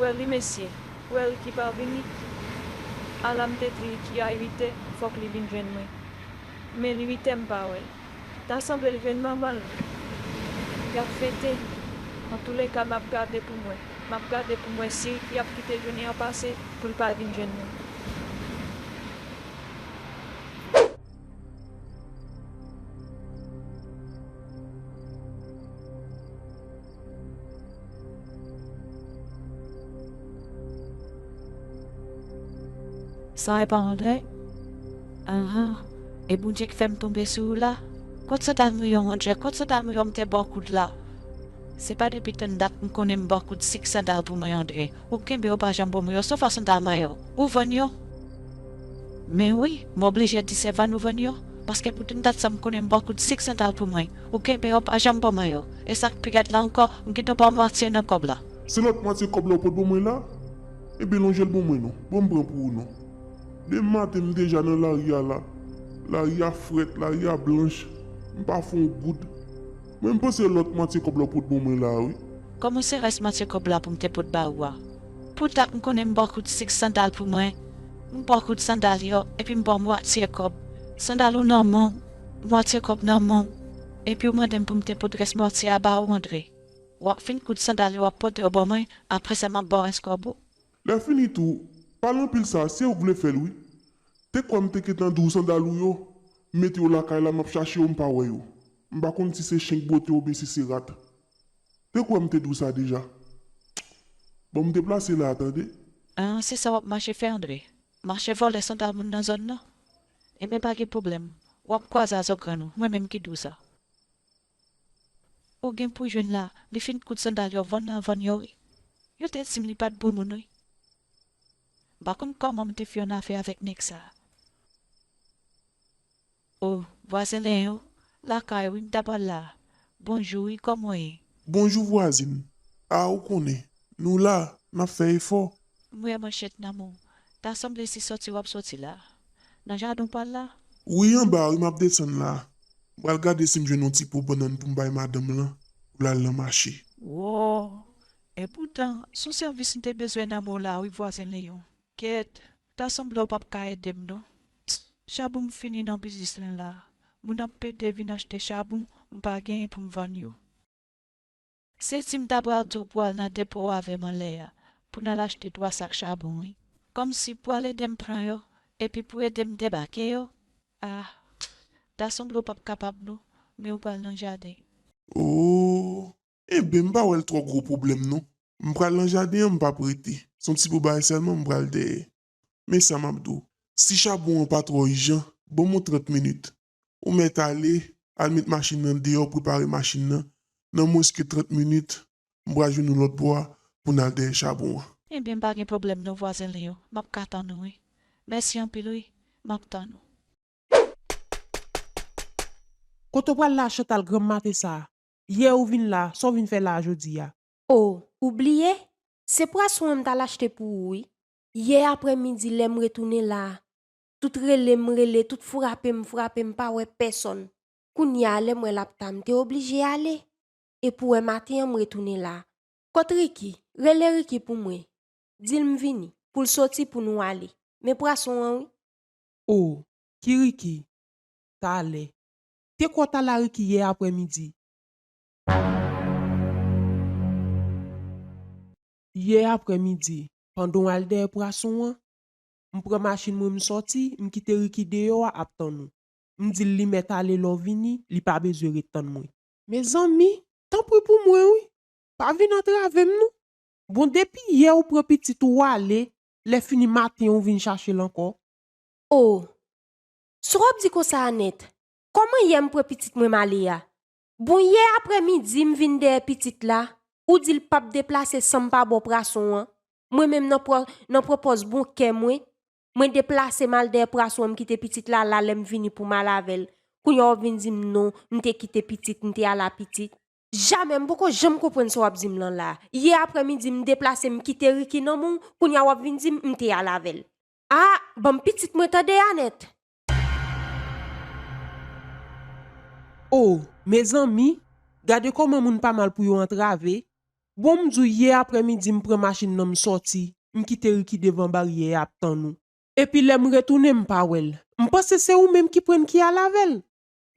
Wè li mesye, wè l ki pa vini. Ala m te di l ki a uitè fòk li vin jwenn mwen. Men l uitè m pa wè l. Ta sanble l jwenn manman l. Y ap fete. Antoulèka m ap gade pou m wè. M ap gade pou m wè si y ap kite jounen an pase pou l pa vin jwenn mwen. Sa e pa Andre? Aha, e Bondye ki fè m tonbe sou ou la? Kot sot al mouye w Andre, kot sot al mouye w m te ba w kout la? Se pa depi tann dat m konnen m ba w kout sik sandal pou mwen Andre, ou kenbe yo pa janm ban mwen yo sof a sandal mwen yo, ou vann yo? Men wi, m oblije di se vann ou vann yo, paske pou tann dat sa m konnen m ba w kout sik sandal pou mwen. Ou kenbe yo pa janm ban mwen yo. E sak pi rèd la ankò, ou gentan baw mwatye nan kòb la. Se lòt mwatye kòb la ou pot ban mwen la? Ebyen lonjel ban mwen non. Banm pran pou ou non. Demen maten m deja nan lari a la. Lari a frèt, lari a blanch. M pa fè yon goud. Mwen m panse lòt mwatye kòb la ou pot ban mwen la a wi. Kòman se rès mwatye kòb la pou m te pot ba ou a? Pou dat m konnen m baw kout sik sandal pou mwen. M baw kout sandal yo epi m baw mwatye kòb. Sandal ou nan men w. Mòtye kòb nan men w, epi w mande m pou m te pote rès mòtye a ba ou, Andre. W ap fin koud sandal yo w ap pote yo ban mwen, apre sa m ap ba w rès kòb ou. Lèfini tou, pale anpil sa a, se ou k vle fè l wi. Te kwè m te gentan di w sandal ou yo, m mete yo lakay la, m ap chache yo m pa wè yo. M pa konn si se chen k bwote oubyen si se rat. Te kwè m te di w sa deja. Bon, m deplase la a tande. An, se sa w ap mache fè, Andre? Mache vòlè sandal moun nan zòn nan? Ebyen pa gen pwoblèm. Wap kwaze a zògrann ou. Mwen menm ki di w sa. Ou gen pou jwenn la. Li fin koud sandal yo vann nan vann yo wi. Yo te di m li pat bon moun wi. M pa konn kòman m te fè yon afè avèk nèg sa. Oh, vwazen Leyen ou lakay ou wi m ta pral la. Bonjou wi koman w ye? Bonjou vwazin. Ah ou konnen. Nou la. Nap fè efò. M wè manchèt nan men w. Ta sanble se sòti wap sòti la. Nan jaden w pral la? Wi anba wi map desann la. M pral gade si m jwenn yon ti po bannann pou m bay madanm lan pou lal nan mache. Woo. Epoutan son sèvis m te bezwen nan men w la wi vwazen Leon. Kèt. Ta sanble ou pap ka edem non. Psst chabum fini nan biznis lan la moun ap pede vin achte chabum m pa genyen poum vann yo. Se si m ta pral tou pwal nan depo avèm anlè a pou nal achte 3 sak chabon wi kòmsi pwal edem pran yo epi pou edem debake yo ah ta sanble ou pap kapab non men ou pral nan jaden. Ooh Enben m pa wè l twò gwo pwoblèm non. M pral nan jaden an m pap rete. S on ti po bagay sèlman m pral dèyè. Men sa m ap di w. Si chabon an pa twò ijan, ban m on trant minit. Ou mèt ale, al met machin nan deyò prepare machin nan, nan mwens ke trant minit, m pral jwenn ou lòt bò a pou n al dèyè chabon an. Enben m pa gen pwoblèm non vwazen Leo. M ap ka tann ou wi. Mèsi anpil wi. M ap tann ou. Kote w pral la Chantal granm mate sa a? Yè ou vin la, sa w vin fè la a jodi a? O, ou bliye? Se pwason an m t al achte pou ou wi. Yè aprè midi lè m retounen la a, tout rele m rele, tout frape m frape m pa wè pèsòn. Kounye a lè m wè l ap ta m te oblije ale. E pou wè maten an m retounen la a. Kot Riki? Rele Riki pou mwen. Di l m vini. Pou l soti pou nou ale. Men pwason an wi. O, ki Riki? Talè. te kwòt alarik yè aprè midi. Yè aprè midi, pandan w al dèyè prason an, m pran machin mwen m sòti, m kite Ricky deyò a ap tann ou. M di l li mèt ale lè w vini, li pa bezwen ret tann mwen. Mezanmi, tanpri pou mwen wi, pa vin antrave m non. Bon depi yè ou pran pitit ou w ale, lè fini maten ou vin chache l ankò? O! Sa w ap di konsa a nèt? Kòman yè m pran pitit mwen m ale a? Bon yè aprè midi m vin dèyè pitit la, ou di l p ap deplase san m pa ba w prason an, mwen menm nan pwopòz bon kè mwen, mwen deplase m al dèyè prason an m kite pitit la la lè m vini pou m al avè l, kounye a w vin di m non m te kite pitit m te al a pitit. Jamè, m poko janm konprann sa w ap di m lan la a. Yè aprè midi m deplase m kite Ricky nan men w, kounye a w ap vin di m m te al avè l. Ah banm pitit mwen tande Anèt. Oh mezanmi gade kòman moun pa mal pou yo antrave bon m di w yè aprè midi m pran machin nan m sòti m kite Ricky devan baryè a ap tann ou epi lè m retounen m pa wè l m panse se ou menm ki prann ki al avè l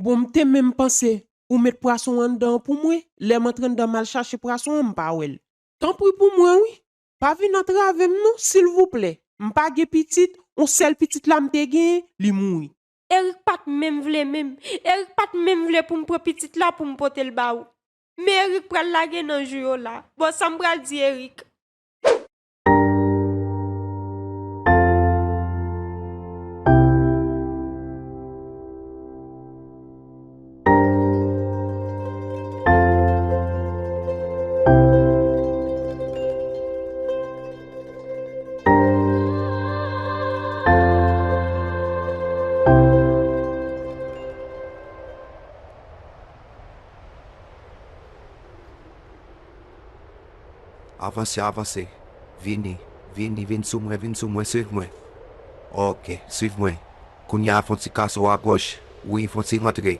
bon m te menm panse ou met pwason anndan an pou mwen lè m antre anndan m al chache pwason an m pa wè l. Tanpri pou mwen wi Pa vin antrave m non silvouplè m pa gen pitit on sèl pitit la m te gen li mouri. Erick pat menm vle menm. Erick pat menm vle poum pran pitit la poum potel ba ou. Men Erick pral lage nan jou yo la. Bon sam pral di Erick. Avanse avanse Vini Vini vin sou mwen vin sou mwen swiv mwen ok swiv mwen. Kounye a fon ti kaso a gòch wi fon ti rantre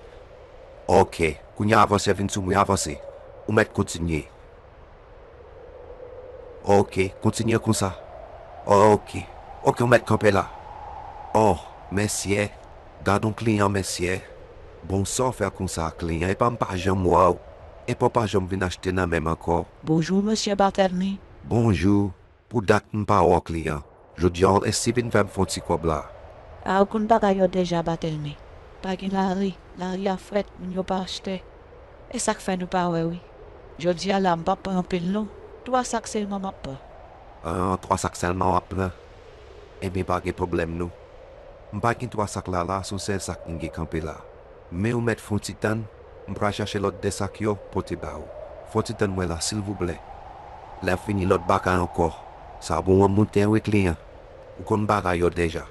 ok kounye a avanse vin sou mwen avanse ou mèt kontinye ok kontinye konsa ok ok ou mèt kanpe la oh mèsyè gadon kliyan mèsyè bon sa w fè konsa kliyan epa m pa janm wè w epa w pa janm vin achte nan menm ankò. Bonjour Mesye Barthelmy. Bonjou. Pou dat m pa or kliyan. Jodi an Esti vin fè m fon ti kòb la. Algun bagay yo deja batel me pa gen lari lari a frèt moun yo pa achtè esak fè nou pa wè wi jodi a la m pap pran anpil non 3 sak selman map pran. Ahh 3 sak selman wap pran enben pa gen pwoblèm nou m pa gen 3 sak la la son sèl sak m gen kanpe la. Men ou mèt fon ti tann m pral chache lòt 2 sak yo pote ba ou fon ti tann mwen la silvouplè. Lè fini lòt bagay ankò sa bon an moun ten wi kliyan ou konn bagay yo deja.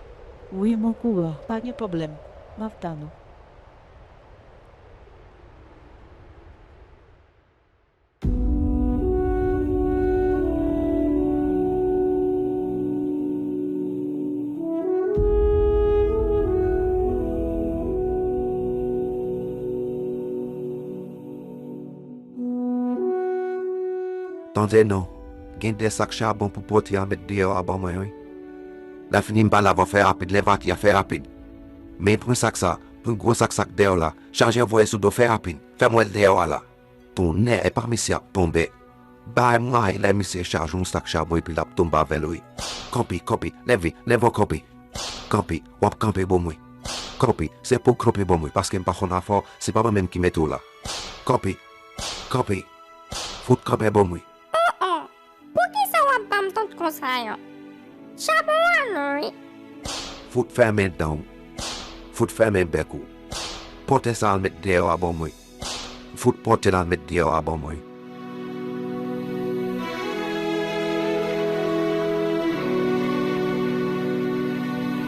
Wi m okouran pa gen pwoblèm map tann ou. Tande non, gen de sak chabon pou pote a met deyò a ban mwen wi. Lè fini m pa la va fè rapid lè vati a fè rapid. Men pran sak sa, pran gwo sak sa k deyò la, chaje voye sou do fè rapid. Fèm wè Leo a la. Tonnè epa misye ap tonbe bay may lè misye chaje yon sak chabon epi lap tonbe avèl wi kanpe kanpe leve leve an kanpe kanpe wap kanpe bon mwen kanpe se pouw kanpe bon mwen paskem pa konn afèw se pa mwen menm ki mete w la kanpe kanpe fout kanpe bon mwen aa. Poukisa wap banm tout konsa yo. Charbon a lou wi. Fout fèmen danw fout fèmen bèk ou pote sa al met deyò a ban mwen fout potel al met deyò a ban mwen.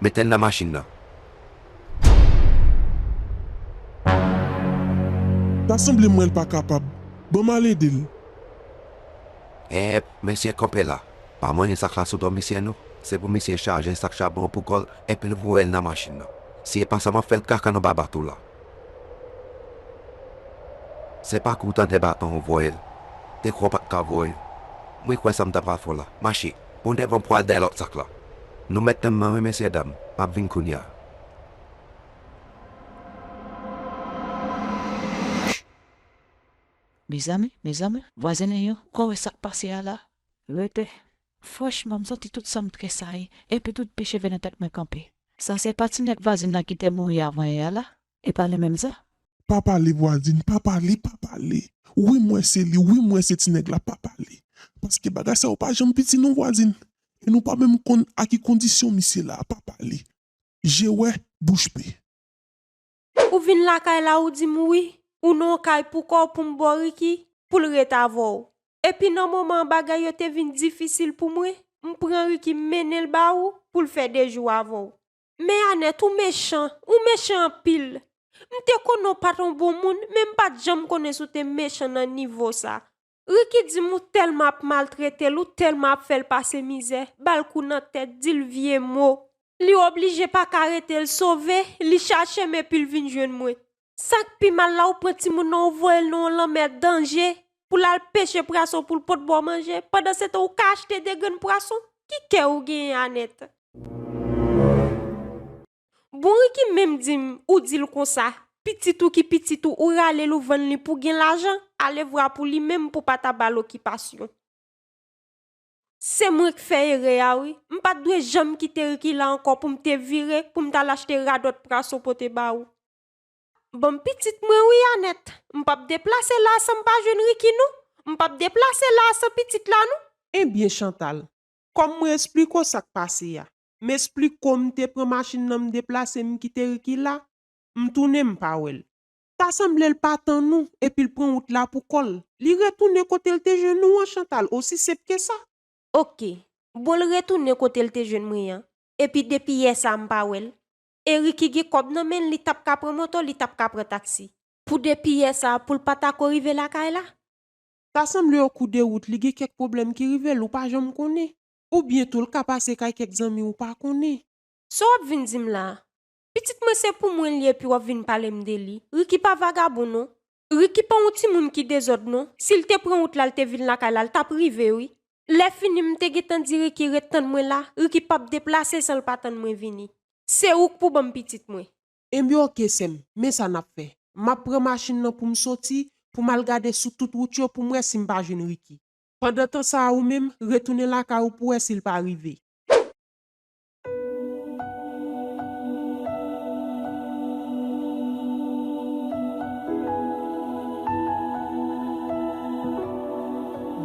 Metel nan machine nan. Ta sanble m wèl pa kapab. Bon m al ede l. Eep mesye konpe la pa manyen sak la sou do misye non se pou misye chaje sak chabon an pou kòl epil voyel nan machin nan si epa sa map fèl kaka nan baba tou la se pa kou tande baton ou voyel dekwa ou pat ka voyel mwen kwè sa m ta pral fè w la mache. Ou devan pwal dèyè lòt sak la. Nou mèt tann mwen wi mesye dam, map vin kounya. Mezanmi mezanmi vwazen an yo ko wè sak pase a la. Rete. Franchman m santi tout sanm tresayi epi tout pi cheve nan tèt mwen kanpe. Sa se pa ti nèg vwazin nan ki te mouri avan yè a la? E pale menm sa. Pa pale vwazin pa pale pa pale wi mwen se li wi mwen se ti nèg la pa pale paske bagay sa yo pa janm piti non vwazin e nou pa menm konn a ki kondisyon misye la pa pale je wè bouch pe. Ou vin lakay la ou dim wi ou nan yon kay pou kòw poum baw Ricky poul ret avèw epi nan moman an bagay yo te vin difisil pou mwen m pran Ricky m mennenl ba ou poul fè 2 jou avèw Men Anèt ou mechan, ou mechan anpil. M te konnen w pa t on bon moun, men m pa t janm konnen si w te mechan nan nivo sa. Ricky di m ou tèlman ap maltrete l, ou tèlman ap fè l pase mizè, ba l kou nan tèt, di l vye mo. Li oblije pa ka rete l sove, li chache m epi l vin jwenn mwen. Sak pi mal la ou pran timoun nan ou voyel nan yon lanmèd danje pou lal peche prason poul pot baw manje pandan setan ou ka achte 2 grenn pwason ki kè ou genyen Anèt. Bon Ricky menm dim ou dil konsa pitit ou ki pitit ou ou ralel ou vann li pou gen lajan alevwa pou li menm pou pata bal okipasyon. Se mwen k fè erè a wi. M pat dwe janm kite Ricky la ankò pou m te vire pou m t al achte radòt praso pote ba ou. Bon m pitit mwen wi Anèt. M pap deplase la a san m pa jwenn Ricky non. M pap deplase la a san pitit la non. Ebyen Chantal, kòm mwen esplik w sa k pase a. M esplik w m te pran machin nan m deplase m kite Ricky la, m tounen m pa wè l. Ta sanble l pa tann ou, epi l pran wout la pou kò l. Li retounen kote l te jwenn ou an, Chantal, osi senp ke sa. Ok. Bon l retounen kote l te jwenn mwen an, epi depi yè sa a m pa wè l. Erik ki gen kòb nan men l, li t ap ka pran moto, li t ap ka pran taksi. Pou depi yè sa a, pou l pa ta ko rive lakay la? Ta sanble okou de wout li gen kèk pwoblèm ki rive l, ou pa janm konnen. Oubyen tou l ka pase kay kèk zanmi ou pa konnen. Sa w ap vin di m la a? Pitit mwen se pou mwen li ye epi wap vin palem de li. Ricky pa vagabon non. Ricky pa yon timoun ki dezòd non. Sil te pran wout la l te vin lakay la l tap rive wi. Lè fini m te gentan di Ricky ret tann mwen la, Ricky pap deplase san l pa tann mwen vini. Se ouk pou banm pitit mwen. Enbyen ok sèm, men sa nap fè. Map pran machin lan poum soti, poum al gade sou tout wout yo poum wè sim pa jwenn Ricky. Pandan tan sa a ou menm, retounen lakay ou pou wè sil pa rive.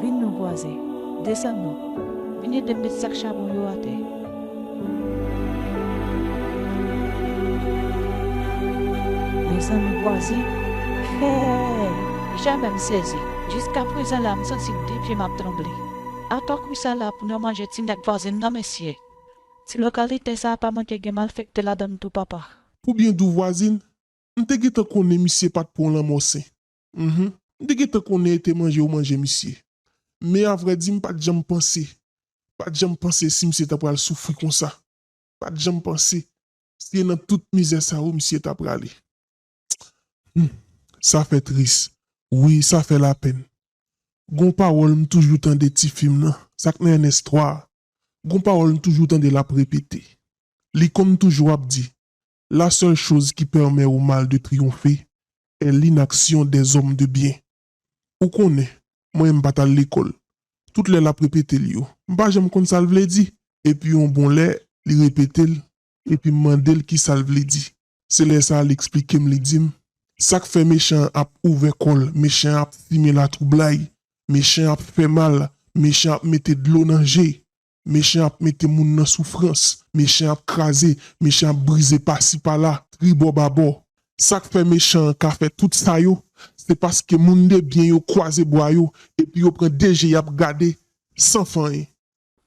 Vin nou bwaze, desann nou, vin ede m met sak chabon yo atè. Desann nou bwaze, fè! Jamè m sezi, jiskaprezan la m santi de pye m ap tranble. Apa kou sa la pou yo manje ti nèg vwazin nan mesye. Ti lokalite sa pa manke gen malfekte ladann tou papa. Pou byen di w vwazin, m te gentan konnen misye pa t pran lanmò sen. Mph. M te gentan konnen e te manje yo manje misye. Men a vrè di m pa t janm panse, pa t janm panse si misye ta pral soufri konsa. Pa t janm panse si e nan tout mizè sa yo misye ta prale. Humm sa fè tris wi sa fè lapèn gon pawòl m toujou tande ti fi m nan sak nan ernest 3 a gon pawòl m toujou tande lap repete li konn toujou ap di la seule chose qui permet au mal de triompher est l'inaction des hommes de bien ou konnen mwen m pat al lekòl tout lè lap repete l yo m pa janm konn sa l vle di epi yon bon lè li repete l epi m mande l kisa l vle di. Se lè sa a l eksplike m, li di m, Sa k fè mechan an ap ouvè kò l, mechan an ap simen latwoublay, mechan an ap fè mal, mechan an ap mete dlo nan je, mechan an ap mete moun nan soufrans, mechan an ap kraze, mechan an ap brize pasi pala, tribò babò. Sa k fè mechan an ka fè tout sa yo, se paske moundebyen yo kwaze bra yo epi yo pran de je y ap gade san fanyen.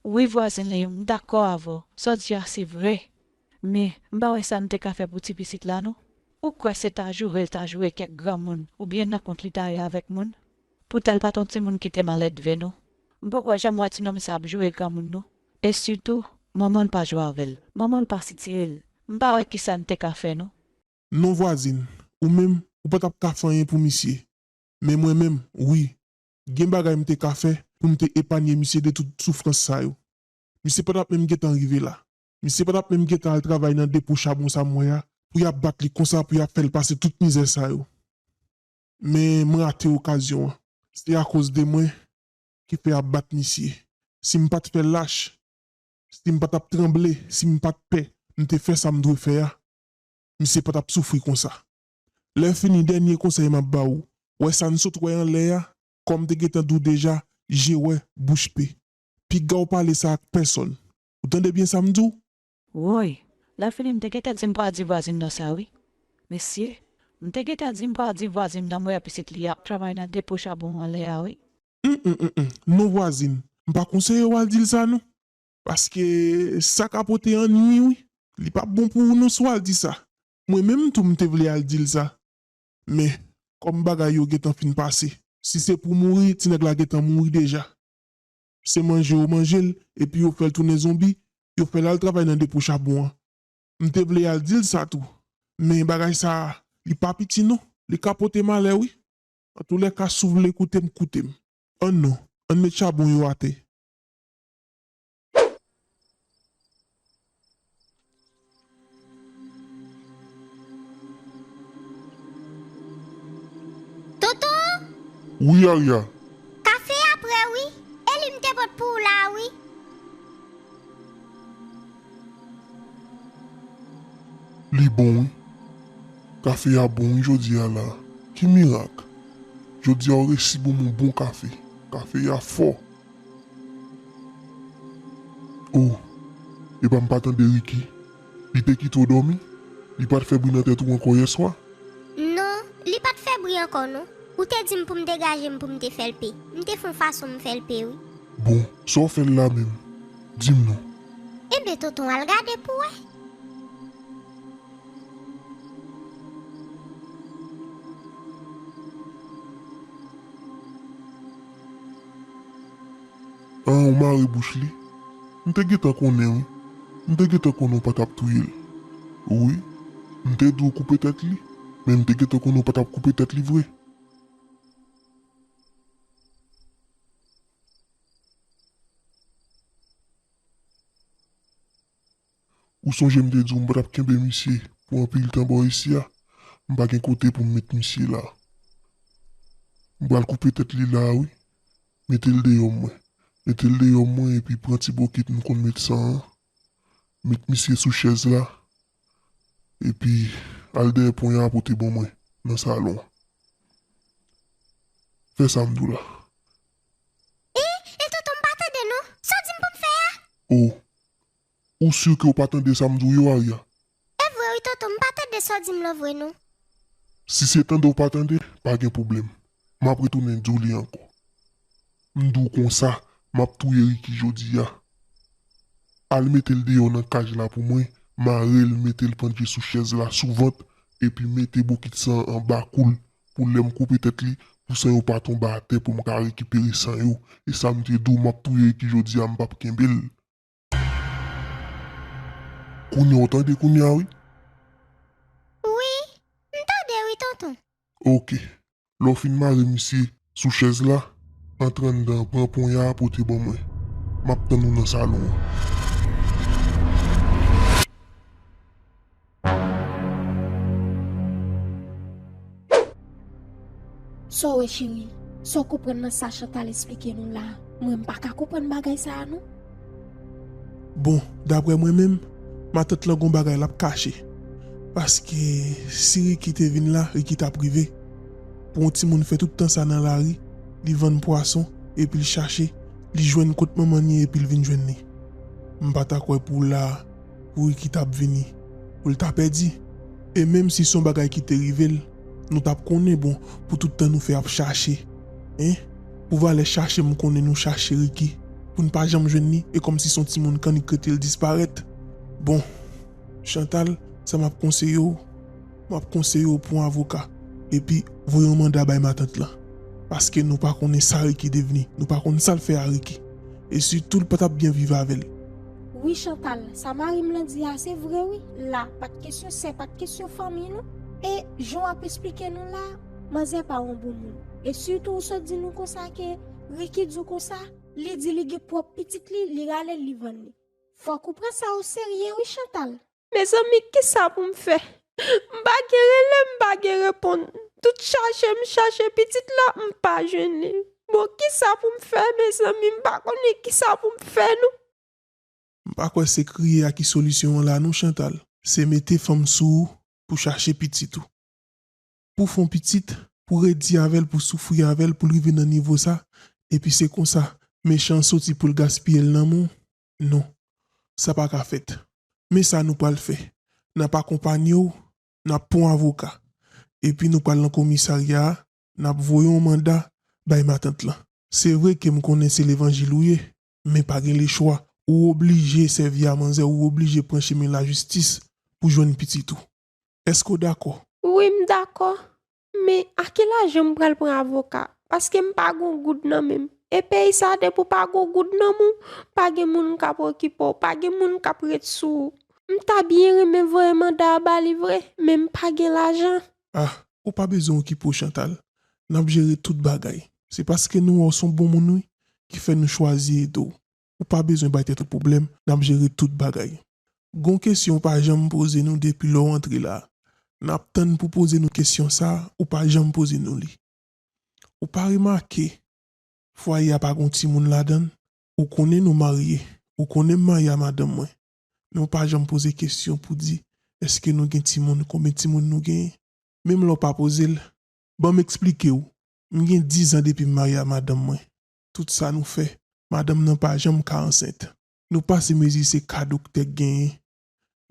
Wi vwazen Leyoo m dakò avè w, sa w di a se vre men m pa wè sa n te ka fè pou ti pitit la non. Ou kwè se ta joure l ta joure kèk granmoun oubyen nan kont li ta ale avèk moun? Poutan l pa t on timoun ki te maledve non. M poko janm wè ti nonm sa ap joure granmoun non e sitou manman l pa jwe avè l, manman l pa sitire l m pa wè kisa n te ka fè non. Non vwazin, ou menm ou pa t ap ka fè anyen pou misye men mwen menm wi. Gen bagay m te ka fè pou m te epanye misye de tout soufrans sa yo. Misye pa t ap menm gentan rive la. Misye pa t ap menm gentan al travay nan depo chabon sa m wè a pou y ap bat li konsa, pou y ap fè l pase tout mizè sa yo. Men m rate okazyon an. Se akoz de mwen ki fè y ap bat misye. Si m pa t fè lach, si m pa t ap tranble, si m pa t pè, m te fè sa m dwe fè a, misye pa t ap soufri konsa. Lè fini dènye konsèy map ba ou, wè sa n sot wè anlè a, kòm te gentan di w deja, je wè, bouch pe. Piga w pale sa ak pèsòn. Ou tande byen sa m di w? Woy! Lè fini m te gentan di m pa di vwazin nan sa wi. Mesye! M te gentan di m pa di vwazin nan m wè pitit li ap travay nan depo chabon anlè a wi. Hum hum hum non vwazin, m pa konseye w al di l sa non. Paske sa ka pote annui wi. Li pap bon pou ou non si w al di sa. Mwen menm tou m te vle al di l sa. Men, kòm bagay yo gentan fin pase. Si se pou mouri, ti nèg la gentan mouri deja. Se manje yo manje l, epi yo fè l tounen zonbi, yo fè l al travay nan depo chabon an. M te vle al di l sa tou. Men bagay sa a, li pa piti non. Li ka pote malè wi. Antoulèka, si w vle koute m, koute m. An non, ann met chabon yo atè. Wi Arya. Kafe a prè wi, e li m te pot pou w la a wi. Li bon wi. Kafe a bon wi jodi a la a. Ki mirak? Jodi a ou resi bon m yon bon kafe. Kafe a fò. Oh epa m pa tande Ricky li te kite w dòmi? Li pat fè bri nan tèt ou ankò yèswa? Non, li pat fè bri ankò non. Ou te di m pou m degaje m pou m te fè l pe. M te fon fason m fè l pe wi. Bon, sa w fè l la menm? Di m non. Enben tonton al gade pou w wè. An ou mare bouch li? M te gentan konnen wi, m te gentan konnen w pa tap touye l wi, m te di w koupe tèt li, men m te gentan konnen w pa tap koupe tèt li vre. Ou sonje m te di w m pa t ap kenbe misye pou anpil tan bò isi a? M pa gen kote pou m met misye la. M pral koupe tèt li la a wi. Mete l deyò mwen. Mete l deyò mwen epi pran ti bokit nou konn met san an, met misye sou chèz la epi al dèyè pon y a pote ban mwen nan salon an. Fè sa m di w la. E, e tonton m pa tande non. Sa w di m pou m fè a? O, Ou sur ke ou pa tande sa m di w yo Aria? E vre wi tonton m pa tande sa w di m lan vre non. Si se tande w pa tande pa gen pwoblèm m ap retounen di w li ankò. M di w konsa m ap touye Ricky jodi a. Al mete l deyò nan kaj la pou mwen, mare l mete l pandje sou chèz la sou vant epi mete bokit san an anba kou l pou lè m koupe tèt li pou san yo pa tonbe atè pou m ka rekipere san yo. E sa m te di w m ap touye Ricky jodi a m p ap kenbe l. Kounya w tande kounya wi. Wi, m tande wi tonton. Ok. Lè w fin mare misye sou chèz la, antre anndan an pran ponya a pote ban mwen. M ap tann ou nan salon an. Saw wè cheri, saw konprann nan sa Chantal esplike nou la, mwen m paka konprann bagay sa a non. Bon, daprè mwen menm, matant lan gon bagay lap kache. Paske si Ricky te vin la, Ricky tap rive. Pou on timoun fè tout tan sa nan lari, li vann pwason, epil chache, li jwenn kot manman n ye epil vin jwenn li. M pata kwè pou la. Kouri ki t ap vini pou l ta pèdi. E menm si s on bagay ki te rive l nou t ap konnen bon pou tout tan nou fè ap chache hein pou valè chache m konnen nou chache Ricky pou n pa janm jwenn li e kòmsi s on timoun kannik rete l disparèt bon Chantal sa m ap konseye w Map konseye w pran yon avoka epi voye yon manda bay matant lan paske nou pa konnen sa Ricky devni nou pa konn sal fè a Ricky e sitou l pa tap byen viv avèl. Wi Chantal, sa marim lan di a se vre wi, la pat kesyon sè pat kesyon fanmiy non, e jan wap esplike nou la manzè pa yon bon moun, e sitou ou sot di nou konsa ke Ricky di w konsa, li di li gen pwòp pitit li, li ralel li vann li. Fòk ou pran sa o serye wi Chantal. Mezanmi kisa pou m fè m pa gen rele m pa gen reponn tout chache m chache pitit la m pa jwenn li bon kisa pou m fè mezanmi m pa konnen kisa pou m fè non. M pa kwè se kriye a ki solisyon an la non Chantal, se mete fanm sou ou pou chache pitit ou. Pou fon pitit, pou redi avèl pou soufri avèl poul rive nan nivo sa epi se konsa mechan an soti poul gaspiyel nan men w Non, sa pa ka fèt. Men sa nou pral fè, n ap akonpanye w, n ap pran avoka, epi nou pral nan komisarya a, n ap voye yon manda bay matant lan. Se vre ke m konnen se levanjil ou ye, men pa gen lechwa, ou oblije sèvi a manzè, ou oblije pran chemen lajistis pou jwenn pitit ou. Èske w dakò? Wi, m dakò. Men ake lajan m pral pran avoka paske m pa gon goud nan menm e peyi sa depi w pa gon goud nan menw pa gen moun k ap okipe w pa gen moun k ap ret sou ou m ta byen renmen voye manda a ba li vre men m pa gen lajan. Ah ou pa bezwen okipe w Chantal n ap jere tout bagay se paske nou wè w s on bon moun wi ki fè nou chwazi ede w. ou pa bezwen bay tèt ou pwoblèm nap jere tout bagay. Gon kesyon ou pa janm poze nou depi lè w antre la, nap tann pou poze nou kesyon sa ou pa janm poze nou li. Ou pa remake fwaye a pa gon timoun ladann? Ou konnen nou marye, ou konnen Maya madanm mwen, men ou pa janm poze kesyon pou di eske nou gen timoun, konbyen timoun nou genyen? Menm lè w pa poze l, banm eksplike w, m gen 10 zan depi m marye a madanm mwen, tout sa nou fè madanm nan pa janm ka ansent. Nou pase mezi se ka doktè k genyen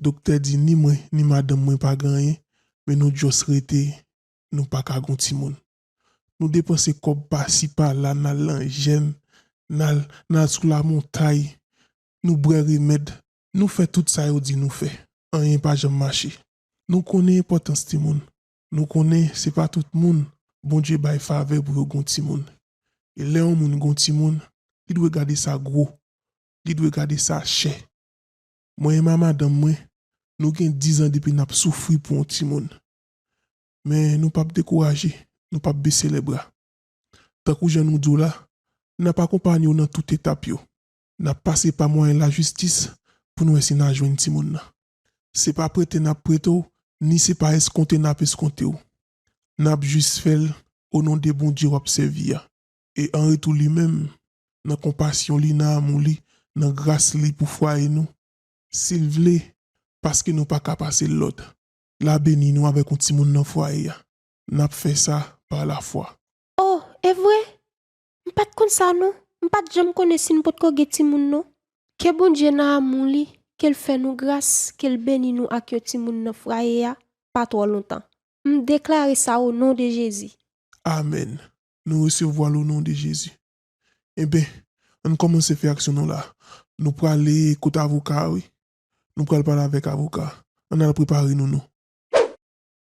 doktè di ni mwen ni madanm mwen pa gen anyen men nou just rete nou pa ka gon timoun nou depanse kòb pasi pala nal nan jèn nal nal sou la montay nou bwè remèd nou fè tout sa yo di nou fè anyen pa janm mache nou konnen enpòtans timoun Nou konnen se pa tout moun Bondye bay favè pou yo gon timoun. E lè yon moun gon timoun, li dwe gade sa gwo, li dwe gade sa chè. Mwen e ma madanm mwen, nou gen dizan depi n ap soufri pou yon timoun. Men nou pap dekouraje, nou pap bese lèbra. Tankou jan nou di w la, n ap akonpanye w nan tout etap yo. N ap pase pa mwayen lajistis pou n wè si n a jwenn timoun nan. Se pa prete n ap prete w, ni se pa eskonte n ap eskonte w. N ap jis fè l onon de Bondye w ap sèvi a. E anretou li menm, nan konpasyon li, nan amou li, nan gras li pou fwaye nou, si l vle, paske nou pa ka pase l lòd, l a beni nou avèk yon timoun nan fwaye a. N ap fè sa pa lafwa. O, evre? M pat konn sa non, m pat janm konnen si n potko gen timoun non. Ke Bondye nan amou li, ke l fè nou gras, ke l beni nou ak yon timoun nan fraye a, pa twò lontan. M deklare sa o non de Jezi. Amèn! Nou resevwa l o non de Jezi. Enben, ann kòmanse fè aksyon nou la. Nou prale kot avoka a wi. Nou pral pale avèk avoka a. Ann al prepare nou nou.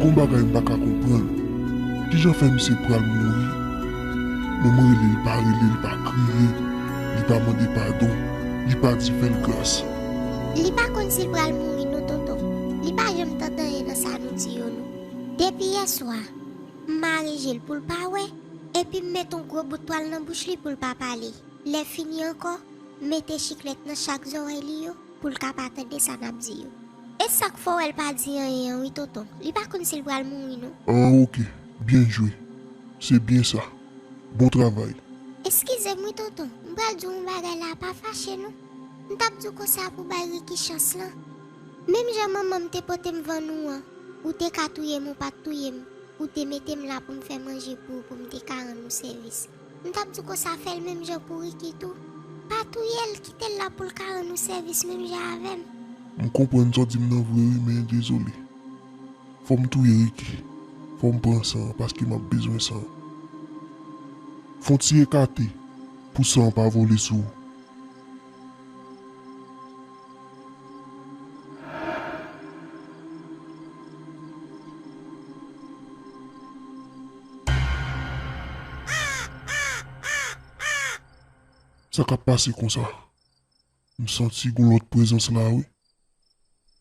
Gon bagay m paka konprann kijan fè misye pral mouri men m rele l pa rele l pa kriye li pa mande padon li pa di fè l gras. Li pa konn sil pral mouri non tonton li pa janm tante anyen nan sa nou di yo non depi yèswa m mare jel poul pa wè Epi m met on gwo bout twal nan bouch li pou l pa pale. Lè fini ankò, m mete chiklèt nan chak zòrèy li yo pou l ka pa tande sa n ap di yo. E sa k fè w wè l pa di anyen an wi tonton. Li pa konn si l pral mouri non. An ok, byen jwe. Se byen sa. Bon travay. Eskize m wi tonton, m pral di w on bagay la a pa fache non. M t ap di w konsa pou w bay Ricky chans lan. Menm jan manman m te pote m vann ou an, ou te ka touye m ou pa t touye m. Ou te mete m la pou m fè manje pou ou pou m te ka rann ou sèvis. M t ap di w konsa fè l menm jan pou Ricky tou. Pa touye l, kite l la pou l ka rann ou sèvis menm jan avè m. M konprann sa w di m nan vre wi men dezole. Fò m touye Ricky. Fò m pran san an paske m ap bezwen san an. Fon ti ekate pou san an pa vole sou ou. Sa kap pase konsa? M santi gon lòt prezans la wi.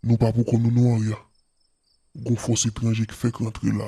Nou pa pou kò nou non Arya. Gon fòs etranje k fèk rantre la.